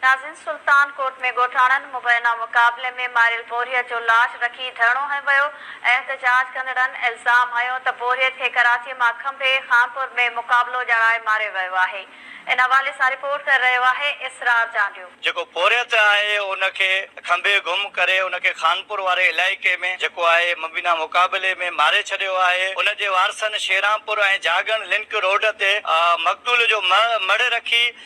ناظرين سلطان ڪوٽ ۾ ڳوٺاڻن مبينا مقابلي ۾ ماريل پورهيت جو لاش رکي ڌرڻو هنيو ويو، احتجاج ڪندڙن الزام هنيو ته پورهيت کي ڪراچي مان کنڀي خانپور ۾ مقابلو ڄاڻائي ماريو ويو آهي، ان حوالي سان رپورٽ ڪري رهيو آهي اسرار چانڊيو. جيڪو پورهيت آهي ان کي کنڀي گم ڪري ان کي خانپور واري علائقي ۾ جيڪو آهي مبينا مقابلي ۾ ماري ڇڏيو آهي، ان جي وارثن شيرانپور ۽ جاڳڻ لنڪ روڊ تي مقتول جو مڙهه رکي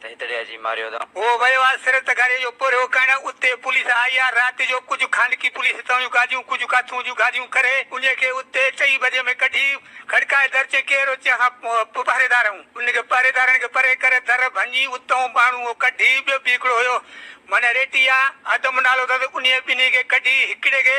ته هتڙي اچي ماريو اٿئون. هو ويو آ سرت گهري جو پورهيو ڪرڻ، اتي پوليس آئي آ رات جو، ڪجهه خانگي پوليس هتان جون گاڏيون ڪجهه ڪاٿون جون گاڏيون ڪري انهي کي اتي چئي بجي ۾ ڪڍي کڙڪائي در چئي ڪير اچي اسان پهريدار آهيون انهن کي پهريدارن کي پري ڪري در ڀڃي اتئون ٻانهون هو ڪڍي ٻيو به هڪڙو هيو معنيٰ ريٽي آ آدم نالو اٿس انهي ٻنهي کي ڪڍي هڪڙي کي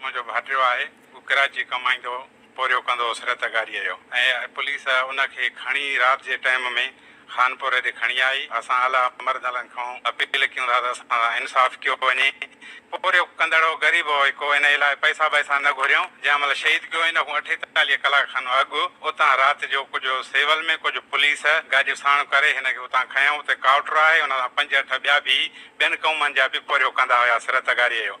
منهنجو ڀائٽيو آهي هو ڪراچي ڪمائيندو هو پورهيو ڪندو هوس رت گاريء جو ۽ پوليس ان کي کڻي رات جي ٽائيم ۾ خانپور هيڏي کڻي آئي اسان اعليٰ مردلن کان اپيل ڪيون ٿا ته اسان سان انصاف ڪيو وڃي پورهيو ڪندڙ هو غريب هو ڪو ان لاء پئسا بئسا نه گهريائون جنهن مهل شهيد ڪيو هن کان اٺيتاليهه ڪلاڪ کن اڳ اتان رات جو ڪجهه سول ۾ ڪجهه پوليس گاڏيون ساڻ ڪري هن کي اتان کنيائون اتي ڪائوٽر آهي ان سان پنج اٺ ٻيا به ٻين قومن جا به پورهيو ڪندا هياس رت گاريء جو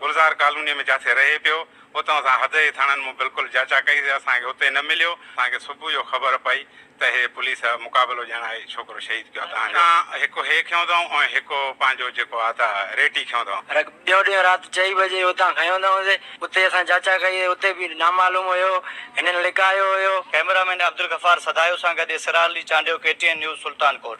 گلزار ڪالونيء ۾ جاٿي رهي پيو، اتان اسان حدئي ٿاڻن مون بلڪل جاچا ڪئي سي اسان کي اتي نه مليو، اسان کي صبح جو خبر پئي ته هي پوليس مقابلو ڄڻ آئي ڇوڪرو شهيد ڪيو اتان جو. هڪ هي کنيو اٿائون ۽ هڪ پنهنجو جيڪو آ ته ريٽي کنيو اٿائون. رڳ ٻيو ڏينهن رات چئي بجي اتان کنيو اٿائون سي، اتي اسان جاچا ڪئي سي اتي به نامعلوم هيو، هنن لڪايو هيو. ڪئميرا مين عبدالغفار سدايو سان گڏ Israr Ali Chandio K T N news Sultankot.